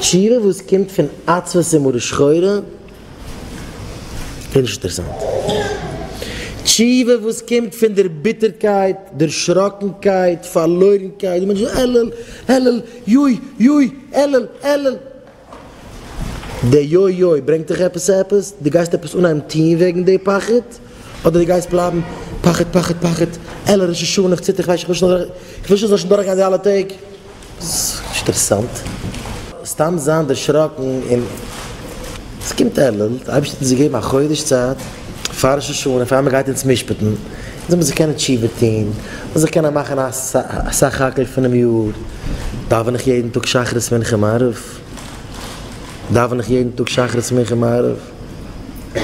שירה וואס קומט פון עצבות און מרה שחורה איז נישט אינטערעסאנט. תשובה וואס קומט פון דער ביטערקייט, דערשראקנקייט, פארלוירנקייט, די מענטש איז עלעל עלעל, יוי יוי, עלעל עלעל. די יוי יוי ברענגט דיך עפעס צו עפעס? דו גייסט עפעס אנהייבן טון וועגן די פחד? אדער דו גייסט בלייבן פחד פחד פחד, עלעל ראש השנה, איך ציטער, איך ווייס נישט וואס איך זאל, איך וויל נישט איך זאל שוין דורכגיין די אלע טעג. שטרעסאנט. סתם זיין דערשראקן און. עס קומט אלול, די אייבערשטער האט אונז געגעבן א חודש צייט פאר ראש השנה און פאר מען גייט אונז משפט'ן, אונז זאל מען זיך קענען תשובה טון, און זיך קענען מאכן א סך הכל פונעם יאר, דאווען איך יעדן טאג שחרית מנחה מעריב? דאווען איך יעדן טאג שחרית מנחה מעריב?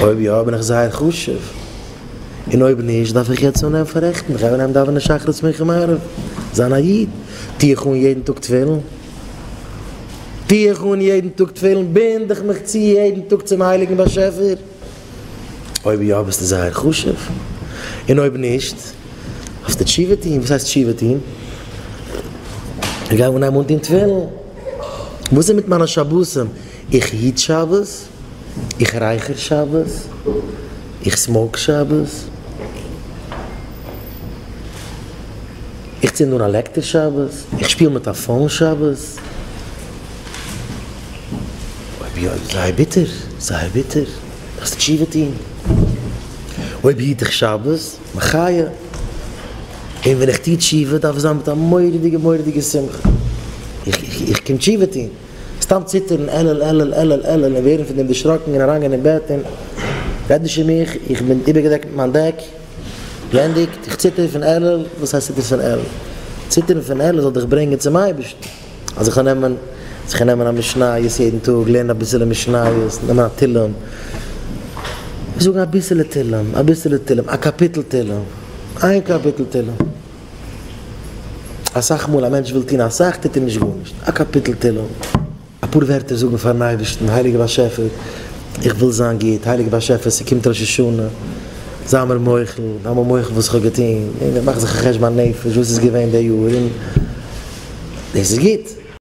אויב יא בין איך זייער חשוב, און אויב נישט דארף איך יעצט אנהייבן פאררעכטן, איך גיי אנהייבן דאווענען שחרית מנחה מעריב, זיין א איד, טוה איך אן יעדן טאג תפילין, טוה איך אן יעדן טאג תפילין, בינד איך מיך צו יעדן טאג צום הייליגן באשעפער, אויב יא ביסטו זייער חשוב, און אויב נישט דארפסטו תשובה טון, וואס הייסט תשובה טון? איך גיי אנהייבן אנטון תפילין, וואס איז מיט מיינע שבתים, איך היט שבת? איך רייכער שבת, איך סמאוק שבת, איך צינד אן א לעקטער שבת, איך שפיל מיט א פאון שבת. אויב יא איז עס זייער ביטער, זייער ביטער, דארפסט תשובה טון. אויב היט איך שבת, מחיה, און ווען איך טו תשובה דארף עס זיין מיט א מורא'דיגע מורא'דיגע שמחה, איך קום תשובה טון. סתם ציטערן עלעל עלעל עלעל עלעל און ווערן פון דעם דערשראקן און אריינגיין אין בעט און רעד נישט פון מיך איך בין איבערגעדעקט מיט מיין דעק בלענדיגט איך ציטער פון עלעל וואס הייסט ציטערסט פון עלעל ציטערן פון עלעל זאל דיך ברענגען צום אייבערשטן אז איך זאל נעמען זיך און נעמען א משניות יעדן טאג לערנען אביסעלע משניות נעמען א תהלים זאגן אביסעלע תהלים אביסעלע תהלים א קאפיטל תהלים איין קאפיטל תהלים. אסאך מאל א מענטש וויל טון אסאך טוט ער נישט גארנישט, א קאפיטל תהלים, אפאר ווערטער זאגן פארן אייבערשטן, הייליגער באשעפער איך וויל זיין גוט, הייליגער באשעפער ס'קומט ראש השנה זיי מיר מוחל, זיי מיר מוחל וואס איך האב געטון, און איך מאך זיך א חשבון הנפש וואס איז געווען די יאר און דאס איז גוט.